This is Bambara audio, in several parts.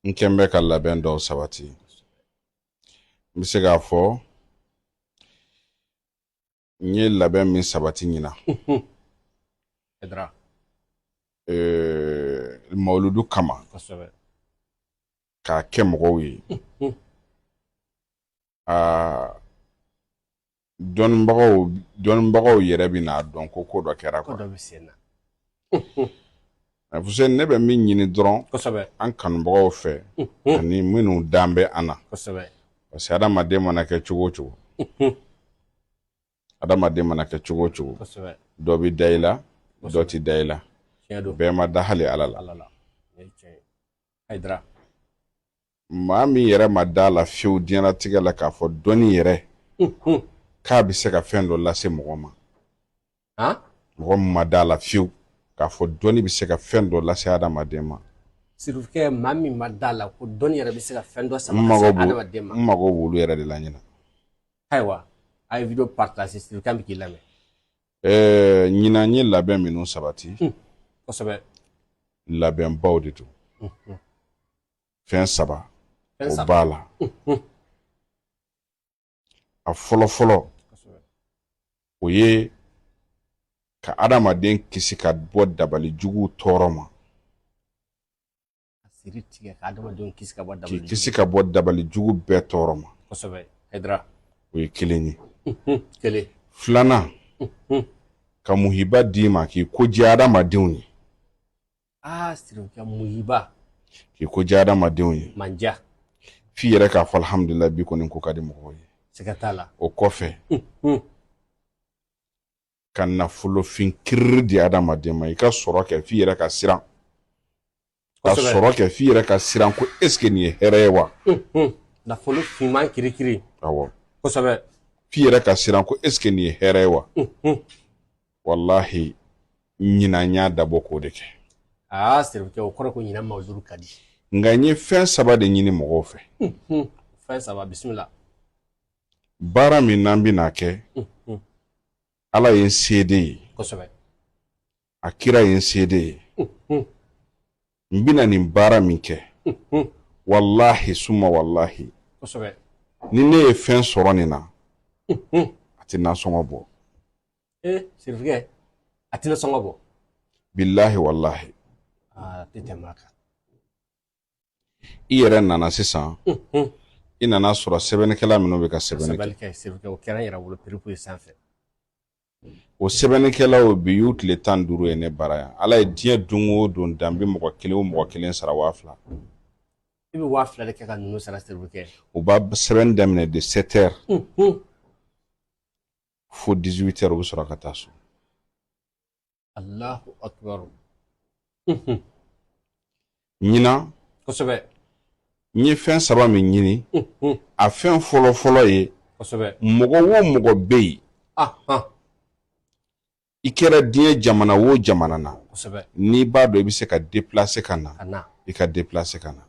n kɛ n bɛ ka labɛn dɔw sabati n bɛ se k'a fɔ n ye labɛn min sabati ɲina mawuludu kama k'a kɛ mɔgɔw ye aa dɔnnibagaw dɔnnibagaw yɛrɛ bɛn'a dɔn ko ko dɔ kɛra ko dɔ bɛ sen na Fuseni ne bɛ min ɲini dɔrɔn kosɛbɛ an kanubagaw fɛ ani minnu dan bɛ an na kosɛbɛ parce que adamaden mana kɛ cogo o cogo adamaden mana kɛ cogo o cogo kosɛbɛ dɔ bɛ da i la dɔ tɛ da i la bɛɛ ma da hali ala la ala la Hayidara maa min yɛrɛ ma da la fiyewu diɲɛnatigɛ la k'a fɔ dɔnni yɛrɛ k'a bɛ se ka fɛn dɔ lase mɔgɔ ma mɔgɔ min ma da la fiyewu k'a fɔ dɔnni bɛ se ka fɛn dɔ lase adamaden ma sirifukɛ maa min ma da la ko dɔnni yɛrɛ bɛ se ka fɛn dɔ sama lase adamaden ma n mago b'olu yɛrɛ de la ɲina ayiwa a ye video partage sirifukɛ bɛ k'i lamɛn ɛɛ ɲinan n ye labɛn minnu sabati kosɛbɛ labɛnbaw de don fɛn saba o b'a la a fɔlɔ fɔlɔ o ye ka adamaden kisi ka bɔ dabali jugu tɔɔrɔ ma k'i kisi ka bɔ dabali jugu bɛɛ tɔɔrɔ ma o ye kelen ye filanan ka muhiba d'i ma k'i ko diya adamadenw ye aa sirifukɛ muhiba k'i ko diya adamadenw ye mandiya f'i yɛrɛ k'a fɔ alhamdulila bi kɔni n ko ka di mɔgɔw ye siga t'a la o kɔfɛ ka nafolofin kiriri di adamaden ma i ka sɔrɔ kɛ f'i yɛrɛ ka siran ka sɔrɔ kɛ f'i yɛrɛ ka siran ko est ce que nin ye hɛrɛ ye wa nafolo finman kirikiri awɔ kosɛbɛ f'i yɛrɛ ka siran ko est ce que nin ye hɛrɛ ye wa walahi ɲinan n y'a dabɔ k'o de kɛ aa sirifukɛ o kɔrɔ ko ɲinan mawuludu ka di nka n ye fɛn saba de ɲini mɔgɔw fɛ fɛn saba bisimila baara min n'an bɛna kɛ ala ye n seede ye kosɛbɛ a kira ye n seede ye n bɛna nin baara min kɛ walahi suma walahi kosɛbɛ ni ne ye fɛn sɔrɔ nin na a tɛ nasɔngɔ bɔ ee sirifikɛ a tɛna sɔngɔ bɔ bilahi walahi aa a tɛ tɛmɛ a kan i yɛrɛ nana sisan Unhun. i nana sɔrɔ sɛbɛnnikɛla minnu bɛ ka sɛbɛnni kɛ sɛbɛnni kɛ sirifikɛ o kɛra n yɛrɛ bolo perepu ye sanfɛ o sɛbɛnnikɛlaw bi y'u tile tan ni duuru ye ne bara yan ala ye diɲɛ don o don dan n bɛ mɔgɔ kelen o mɔgɔ kelen sara waa fila i bɛ waa fila de kɛ ka ninnu sara sirifikɛ u b'a sɛbɛnni daminɛ de 7 heures Unhun. fo 18 heures u bɛ sɔrɔ ka taa so alahu akibaru ɲinan kosɛbɛ n ye fɛn saba min ɲini a fɛn fɔlɔ fɔlɔ ye kosɛbɛ mɔgɔ wo mɔgɔ bɛ yen i kɛra diɲɛ jamana wo jamana na n'i b'a dɔn i bɛ se ka déplacer ka na i ka déplacer ka na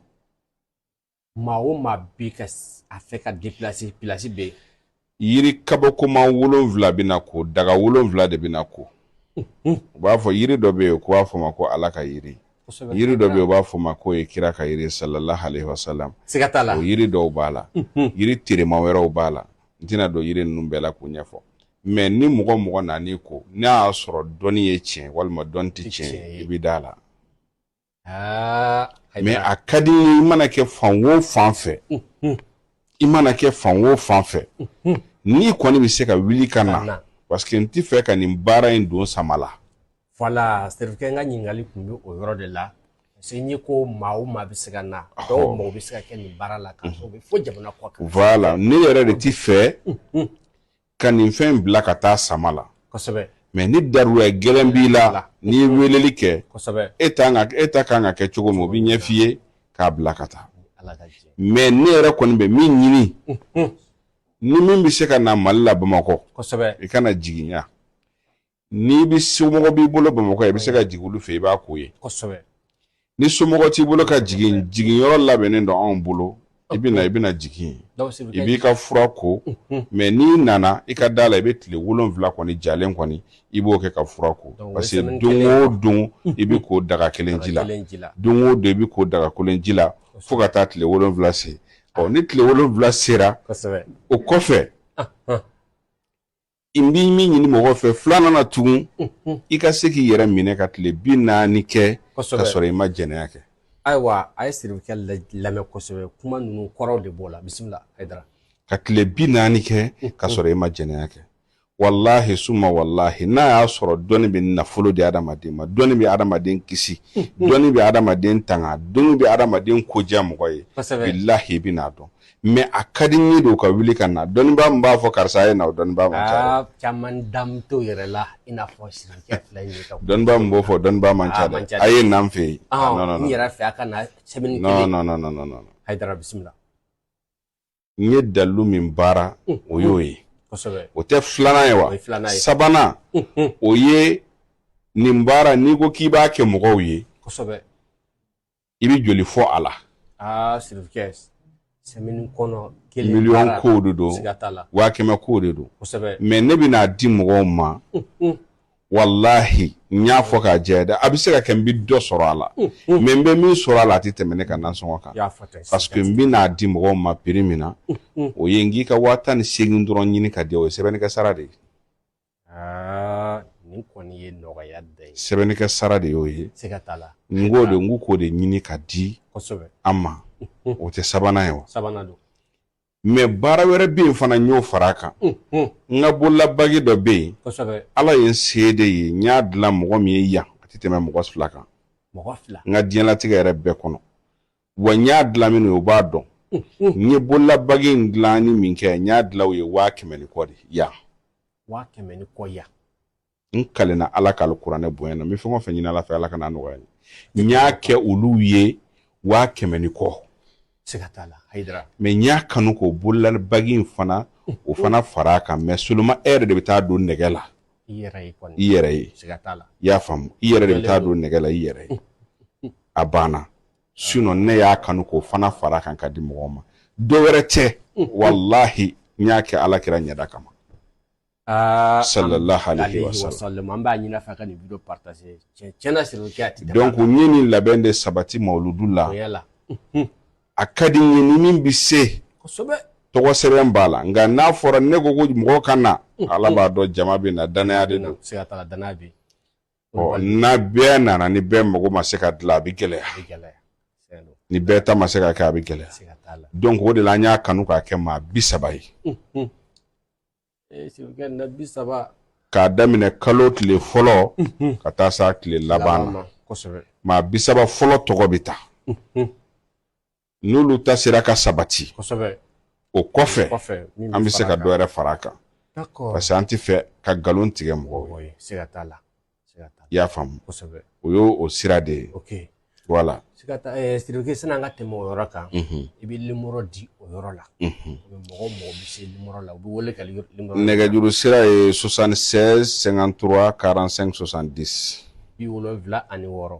maa o maa bɛ ka a fɛ ka déplacer place bɛ yen yiri kabakoma wolonwula bɛ na ko daga wolonwula de bɛ na ko u b'a fɔ yiri dɔ bɛ yen ko b'a fɔ ma ko ala ka yiri yiri dɔ bɛ yen u b'a fɔ ma ko ye kira ka yiri salalahu alayihi wasalamu siga t'a la o yiri dɔw b'a la yiri terima wɛrɛw b'a la n tɛna don yiri ninnu bɛɛ la k'u ɲɛfɔ mais ni mɔgɔ mɔgɔ nana ko n'a y'a sɔrɔ dɔnni ye tiɲɛ walima dɔnni tɛ tiɲɛ i bɛ da la mais a ka di i mana kɛ fan wo fan fɛ i mana kɛ fan wo fan fɛ n'i kɔni bɛ se ka wuli ka na parce que n tɛ fɛ ka nin baara in don sama la voilà sirifikɛ n ka ɲininkali tun bɛ o yɔrɔ de la parce que n ye ko maa o maa bɛ se ka na dɔw mago bɛ se ka kɛ nin baara la ka sɔrɔ u bɛ fo jamana kɔ kan voilà ne yɛrɛ de tɛ fɛ ka nin fɛn in bila ka taa sama la kosɛbɛ mais ni daruya gɛlɛn b'i la n'i ye weleli kɛ kosɛbɛ e t'an ka e ta kan ka kɛ cogo min o bɛ ɲɛf'i ye k'a bila ka taa ala ka jɛ mais ne yɛrɛ kɔni bɛ min ɲini ni min bɛ se ka na mali la bamakɔ kosɛbɛ i ka na jigin yan n'i bɛ somɔgɔ b'i bolo bamakɔ i bɛ se ka jigin olu fɛ i b'a ko yen kosɛbɛ ni somɔgɔ t'i bolo ka jigin jiginyɔrɔ labɛnnen don anw bolo i bɛ na i bɛna jigin i b'i ka fura ko mais n'i nana i ka da la i bɛ tile wolonwula kɔni jalen kɔni i b'o kɛ ka fura ko parce que don o don i bɛ ko daga kelen ji la don o don i bɛ ko daga kelen ji la fo ka taa tile wolonwula se ɔ ni tile wolonwula sera o kɔfɛ n bɛ min ɲini mɔgɔ fɛ filanan na tugun i ka se k'i yɛrɛ minɛ ka tile bi naani kɛ ka sɔrɔ i ma jɛnɛya kɛ ayiwa a ye sirifikɛ lamɛn kosɛbɛ kuma ninnu kɔrɔw de b'o la bisimila hayidara ka tile bi naani kɛ ka sɔrɔ i ma jɛnɛya kɛ walahi suma walahi n'a y'a sɔrɔ dɔnni bɛ nafolo di adamaden ma dɔnni bɛ adamaden kisi dɔnni bɛ adamaden tanga dɔnni bɛ adamaden ko diya mɔgɔ ye bilahi i bɛn'a dɔn mɛ a ka di n ye de u ka wuli ka na dɔnnibaa min b'a fɔ karisa ye na dɔnnibaa man ca caman damu yɛrɛ la i n'a fɔ dɔnnibaa min b'o fɔ dɔnnibaa man ca a ye na n fɛ yen n yɛrɛ fɛ a ka na sɛbɛn a bisimila n ye dalilu min baara o y'o ye o tɛ filanan ye wa sabanan o ye nin baara n'i ko k'i b'a kɛ mɔgɔw ye i bɛ joli fɔ a la aa sirikɛ sɛmɛni kɔnɔ kelen miliyɔn kow de don waa kɛmɛ kow de don mɛ ne bɛ n'a di mɔgɔw ma walahi n y'a fɔ k'a jɛ dɛ a bɛ se ka kɛ n bɛ dɔ sɔrɔ a la mɛ n bɛ min sɔrɔ a la a tɛ tɛmɛ ne ka nasɔngɔ kan parce que n bɛ n'a di mɔgɔw ma piri min na o ye n k'i ka waa tan ni segin dɔrɔn ɲini ka di o ye sɛbɛnnikɛ sara de ye aa nin kɔni ye nɔgɔya da ye sɛbɛnnikɛ sara de y'o ye siga t'a la n k'o de n ko k'o de ɲini ka di kosɛbɛ an ma o tɛ sabanan ye wa sabanan don mɛ baara wɛrɛ bɛ yen fana n y'o fara a kan n ka bololabagi dɔ bɛ yen kosɛbɛ ala ye n seede ye n y'a dilan mɔgɔ min ye yan a tɛ tɛmɛ mɔgɔ fila kan mɔgɔ fila n ka diɲɛlatigɛ yɛrɛ bɛɛ kɔnɔ wa n y'a dilan min ye o b'a dɔn n ye bololabagi in dilanni min kɛ n y'a dilan u ye waa kɛmɛ ni kɔ de yan waa kɛmɛ ni kɔ yan n kalenna ala ka alikuranɛ bonya na n bɛ fɛn o fɛn ɲini ala fɛ ala kan'a nɔgɔya n ye n y'a kɛ olu ye waa kɛmɛ ni kɔ siga t'a la hayidara mɛ n y'a kanu k'o bololabagi in fana o fana fara a kan mɛ seulement e yɛrɛ de bɛ taa don nɛgɛ la i yɛrɛ ye kɔni i yɛrɛ ye siga t'a la i y'a faamu i yɛrɛ de bɛ taa don nɛgɛ la i yɛrɛ ye a banna ne y'a kanu k'o fana fara a kan ka di mɔgɔw ma dɔ wɛrɛ tɛ walahi n y'a kɛ ala kira ɲɛda kama ah, sallallahu alaihi wasallam an b'a ɲini a fɛ ka nin video partager tiɲɛ na sirikɛ a tɛ donc n ye nin labɛn de sabati mawuludu la a ka di n ye ni min bɛ se kosɛbɛ tɔgɔ sɛbɛn b'a la nka n'a fɔra ne ko ko mɔgɔ ka na ala b'a dɔn jama bɛ na danaya de don n'a bɛɛ nana ni bɛɛ mago ma se ka dilan a bɛ gɛlɛya ni bɛɛ ta ma se ka kɛ a bɛ gɛlɛya donc o de la an y'a kanu k'a kɛ maa bi saba ye k'a daminɛ kalo tile fɔlɔ ka taa s'a tile laban na maa bi saba fɔlɔ tɔgɔ bɛ ta n'olu ta sera ka sabati o kɔfɛ an bɛ se ka dɔ wɛrɛ fara a kan parce que an tɛ fɛ ka nkalon tigɛ mɔgɔw ye i y'a faamu o y'o sira de ye wala sirikɛ sani an ka tɛmɛ o yɔrɔ kan i bɛ limɔrɔ di o yɔrɔ la mɔgɔ mɔgɔ bɛ se limɔrɔ la u bɛ wele ka nɛgɛjuru sira ye soixante-seize cinquante-trois quarante-cinq soixante-dix bi wolonwula ani wɔɔrɔ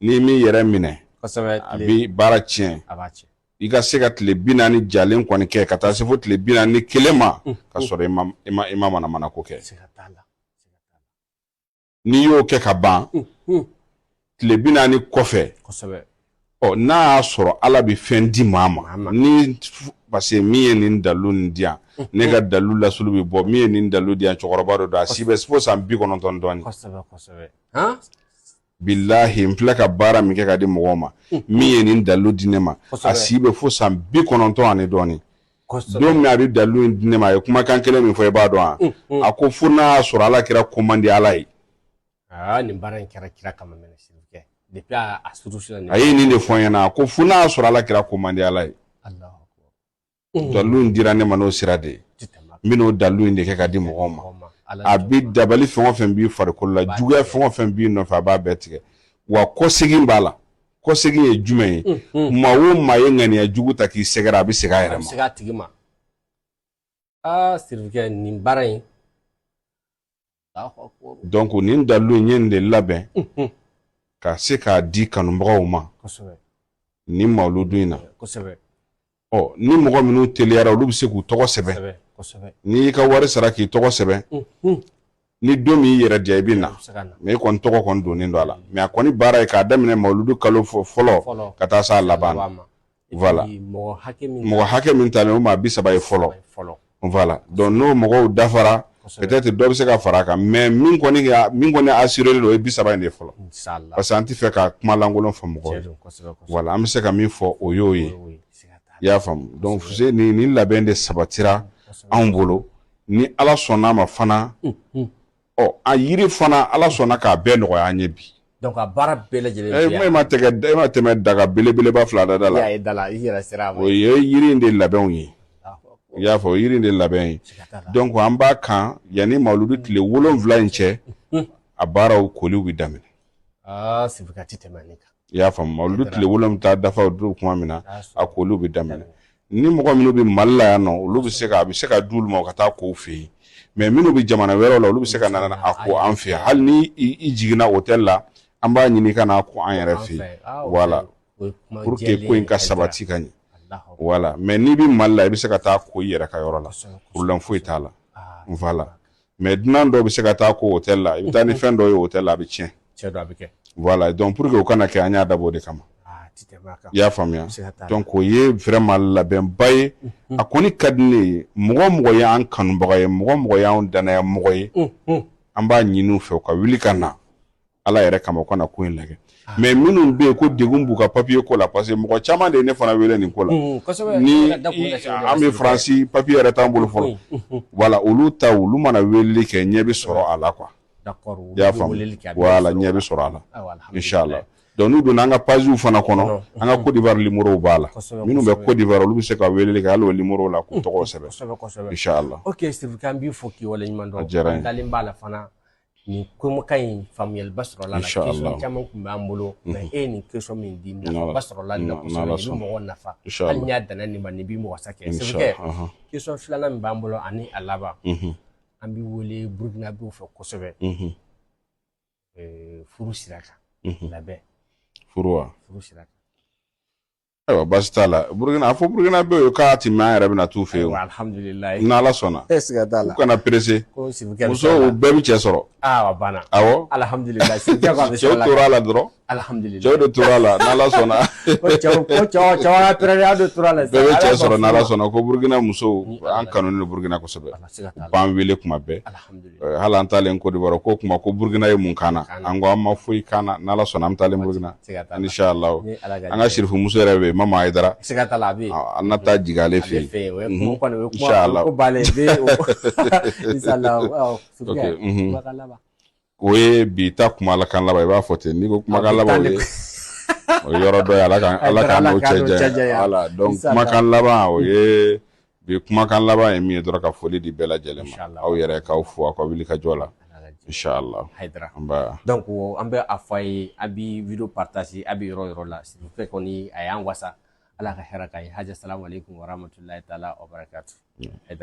N'i m'i yɛrɛ minɛ, kosɛbɛ, a bɛ baara tiɲɛ, a b'a tiɲɛ. i ka se ka tile bi naani jalen kɔni kɛ ka taa se fo tile bi naani ni kelen ma ka sɔrɔ i ma i ma i ma manamana ko kɛ n'i y'o kɛ ka ban tile bi naani kɔfɛ ɔ n'a y'a sɔrɔ ala bɛ fɛn di maa ma ni parce que min ye nin dalu nin di yan ne ka dalu lasulu bɛ bɔ min ye nin dalu di yan cɛkɔrɔba dɔ don a si bɛ fo san bi kɔnɔntɔn dɔɔnin Bilahi n filɛ ka baara min kɛ ka di mɔgɔw ma min ye nin dalu di ne ma a si bɛ fo san bi kɔnɔntɔn ani dɔɔnin don min a bɛ dalu in di ne ma a ye kumakan kelen min fɔ i b'a dɔn wa a ko fo n'a y'a sɔrɔ ala kira ko man di ala ye nin baara in kɛra kira kama a ye nin de fɔ n ɲɛna a ko fo n'a y'a sɔrɔ ala kira ko man di ala ye dalu in dira ne ma n'o sira de ye n bɛn'o dalu in de kɛ ka di mɔgɔw ma a bɛ dabali fɛn o fɛn b'i farikolo la juguya fɛn o fɛn b'i nɔfɛ a b'a bɛɛ tigɛ wa kɔsegin b'a la kɔsegin ye jumɛn ye maa o maa ye ŋaniya jugu ta k'i sɛgɛrɛ a bɛ segin a yɛrɛ ma aa sirifukɛ nin baara in donc nin dalu n ye nin de labɛn ka se k'a di kanubagaw ma nin mawuludu in na ɔ ni mɔgɔ minnu teliyara olu bɛ se k'u tɔgɔ sɛbɛn n'i y'i ka wari sara k'i tɔgɔ sɛbɛn ni don min y'i yɛrɛ diya i bɛ na mais e kɔni tɔgɔ kɔni donnen don a la mais a kɔni baara ye k'a daminɛ mawuludu kalo fɔlɔ ka taa se a laban voilà mɔgɔ hakɛ min mɔgɔ hakɛ min talen o maa bi saba ye fɔlɔ fɔlɔ voilà donc n'o mɔgɔw dafara peut-être dɔ bɛ se ka fara a kan mais min kɔni ka min kɔni assurélen don o ye bi saba in de fɔlɔ parce que an tɛ fɛ ka kuma lankolon fɔ mɔgɔw ye voilà an bɛ se ka min fɔ o y'o ye i y'a faamu donc Fuse nin nin labɛn de sabatira anw bolo ni Ala sɔnn'a ma fana ɔ a yiri fana ala sɔnna k'a bɛɛ nɔgɔya an ye bi donc a baara bɛɛ lajɛlen eh, bɛ e ma tɛgɛ e ma tɛmɛ daga belebeleba fila da da la i da la i yɛrɛ sera a ma o ye yiri in de labɛnw ye i y'a fɔ yiri in de labɛn ye donc an b'a kan yanni mawuludu tile wolonwula in cɛ a baaraw koliw bɛ daminɛ aa sirifukɛ a tɛ tɛmɛ nin kan i y'a faamu mawuludu tile wolonwula bɛ taa dafa don kuma min na a koli bɛ daminɛ ni mɔgɔ minnu bɛ mali la yan nɔ olu bɛ se a bɛ se ka di u ma ka taa ko u fɛ yen mais minnu bɛ jamana wɛrɛ la olu bɛ se ka na a ko an fɛ yan hali ni i jiginna hôtel la an b'a ɲini ka n'a ko an yɛrɛ fɛ yen voilà pour que ko in ka sabati ka ɲɛ voilà mais n'i bɛ mali la i bɛ se ka taa ko i yɛrɛ ka yɔrɔ la problème foyi t'a la voilà mais dunan dɔw bɛ se ka taa ko hôtel la i bɛ taa ni fɛn dɔ ye hôtel la a bɛ tiɲɛ voilà donc pour que o kana kɛ an y'a dabɔ o de kama ah, i y'a faamuya donc o ye vraiment labɛnba ye a kɔni ka di ne ye mɔgɔ o mɔgɔ ye an kanubaga ye mɔgɔ o mɔgɔ y'an dannaya mɔgɔ ye an b'a ɲini u fɛ u ka wuli ka na ala yɛrɛ kama u ka na ko in lajɛ ah. mais minnu bɛ yen ko degun b'u ka papiye ko la parce que mɔgɔ caman de ye ne fana wele nin ko la mm, ni an bɛ faransi papiye yɛrɛ t'an bolo fɔlɔ mm, mm, voilà olu ta olu mana weleli kɛ ɲɛ bɛ sɔrɔ a la quoi i y'a faamu voilà ɲɛ bɛ sɔrɔ a la inshallah donc n'u donna an ka paziw fana kɔnɔ an ka kodivar limorow b'a la minnu bɛ kodivar olu bɛ se ka weleli kɛ hali o limorow la k'u tɔgɔw sɛbɛn inshallah ok sirifukɛ an b'i fo k'i waleɲuman dɔn a diyara n ye an dalen b'a la fana nin kumakan in faamuyaliba sɔrɔla a la Inchallah. question caman tun b'an bolo mais e ye nin question min di N'Ala- nafaba sɔrɔla nin na N'Ala kosɛbɛ nin bɛ sɔnna. mɔgɔ nafa Inchallah. hali n'a danna nin ma nin bɛ mɔgɔ sa kɛ Inchallah, Sirifukɛ ahan. question filanan min b'an bolo ani a laban Mhm. an bɛ wele burukinabew fɛ kosɛbɛ Mhm. eh, furu sira kan Mhm. labɛn furu wa furu sira kan Ayiwa baasi t'a la Burukina a fɔ Burukinabew ye k'a tɛ mɛn an yɛrɛ bɛna t'u fɛ yen o, alihamudulilayi, ni Ala sɔnna, e siga t'a la, u kana pressé ko Sirifukɛ musow bɛɛ bɛ cɛ sɔrɔ, aa a banna, awɔ, alihamudulilayi, Sirifukɛ a bɛ cɛw tora a la dɔrɔn, alihamudulilayi, cɛw de tora a la n'Ala sɔnna, ko cɛw ko cɛw cɛw y'a pɛrɛn a de tora a la, bɛɛ bɛ cɛ sɔrɔ n'Ala sɔnna ko Burukina musow an kanunen don Burukina kosɛbɛ, u b'an wele kuma bɛɛ, alihamudulilayi Eh, hali an taalen kodivar ko kuma ko burukina ye mun k'an na an ko a ma foyi k'an na n'ala sɔnna an taalen burukina inchallah an ka sirifu muso yɛrɛ bɛ yen mama ayidara an na taa jigin ale fɛ yen o ye bi ta kumakan laban i b'a fɔ ten n'i ko kumakan laban o ye yɔrɔ dɔ ye ala k'an n'o cɛ janya kumakan laban o ye Bi kumakan laban ye min ye dɔrɔn ka foli di bɛɛ lajɛlen ma aw yɛrɛ k'aw fo aw ka wuli ka jɔ la inchallah donc an bɛ a fɔ a ye a bɛ vidéo partager a bɛ yɔrɔ yɔrɔ la sirifukɛ kɔni a y'an wasa ala ka hɛrɛ k'a ye haji assalamu alaikum wa rahmatulahi taala